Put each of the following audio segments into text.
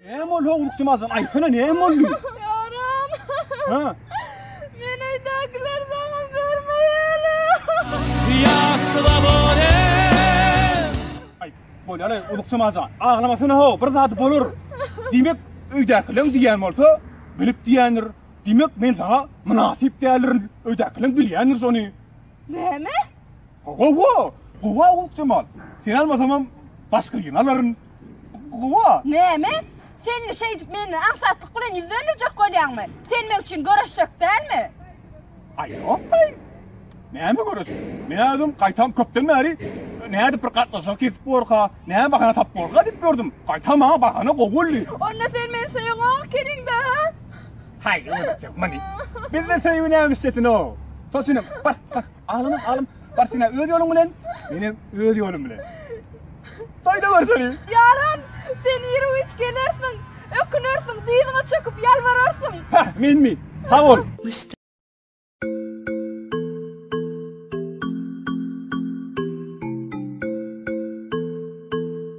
Näme boldy howlukçy mazan? Aýtsana näme boldy? Ýaram. Ha. Men öýdäkiler bana görmeýäle. Ya swobode. Aý, bolýar, ulukçy mazan. Aglamasana ho, bir zat bolar. Diýmek, öýdäkileň diýen bolsa, bilip diýendir. Diýmek, men sana mynasyp däldirin. Öýdäkileň bilýändir şony. Näme? Ho, ho, ho. Gowa ulukçy mal. Sen almasamam başga ýene alaryn. Guwa. Näme? Sen şeýdip menden aňsatlyk bilen ýüz dönderjek bolýaňmy? Sen meň üçin göreşjek dälmi? Aý ýok aý. Näme göreşip? Men özüm gaýtam köpden bäri nädip bir gatnaşyk kesip borka, näme bahana tap borka diýip gördüm. Gaýtam maňa bahana gowy boldy. Onda sen meni söýüňok keniňde ha? Haý, öýdüp çyk, many. Bizde söýgi nämişçesine o. Soşunyň, bar, bar. Alym, alym, bar sen öz ýoluň bilen, men hem öz ýolum bilen. Toýda görüşelim. Ýaran, sen ýeri güýç gelersiň, ökünersiň, dyzyňa çöküp ýalbararsyň. Ha, menmi? Sag bol.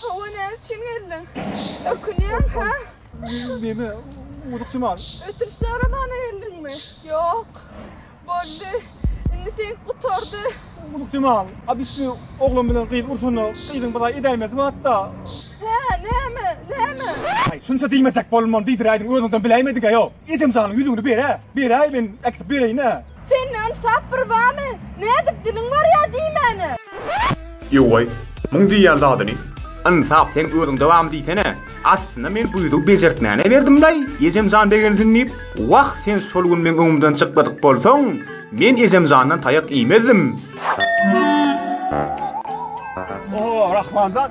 Hawa näme üçin geldiň? Ökünýäň ha? Neme urukçy mal? Ötüş soramana geldiňmi? Ýok. Boldy. Indi sen gutardy. Urukçy mal. Abisli oglan bilen gyz urşanda gyzyň bir ay edäýmesi batda. Hä, näme? Näme? Ay, şunça diýmesek bolman diýdiräýdiň özüňden biläýmediňä ýok. Ejem janyň ýüzüňni bere. Beräý men äkitip bereýin-ä. Sende ynsap bir bamy? Nädip diliň barýa diýmäne. Ýowaý, muň diýýän zadyny. Ynsap seň özüňde bamy diýsene. Aslynda men bu ýüzügi bejertmäne berdim-laý, Ejemjan begensin diýip. Wah, sen şol gün meň öňümden çykladyk bolsaň, men Ejemjandan taýak iýmezdim. Oho, Rahmanjan,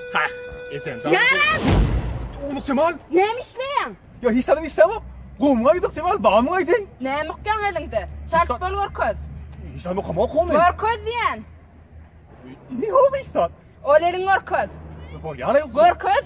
Hah, eten. Ýaras! Uluk Jemal! Näme işleýäň? Ýa hiç adam işlämok. Gowumy aýdyk Jemal, bagmy aýdyň? Näme okýaň eliňde? Çalt bol görkez. Hiç adam okamok ony. Görkez diýen. Ni howa istat? Ol eliň görkez. Bor ýaly. Görkez.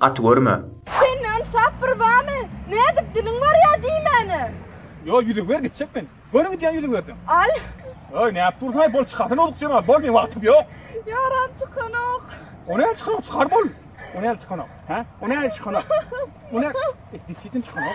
Gaty görme. Sende ynsap bir bamy? Nädip diliň barýa diýmäne. Ýo ýüzügi ber gitjek men. Göni gidýän ýüzügi berseň. Al. Öý nädip dursaň bol çykarsyň ozuk jemal bol meň wagtym ýok. Ýaran çykanok. O näme çykanok çykar bol. O näme çykanok hä o näme çykanok. O näme et disýetin çykanok.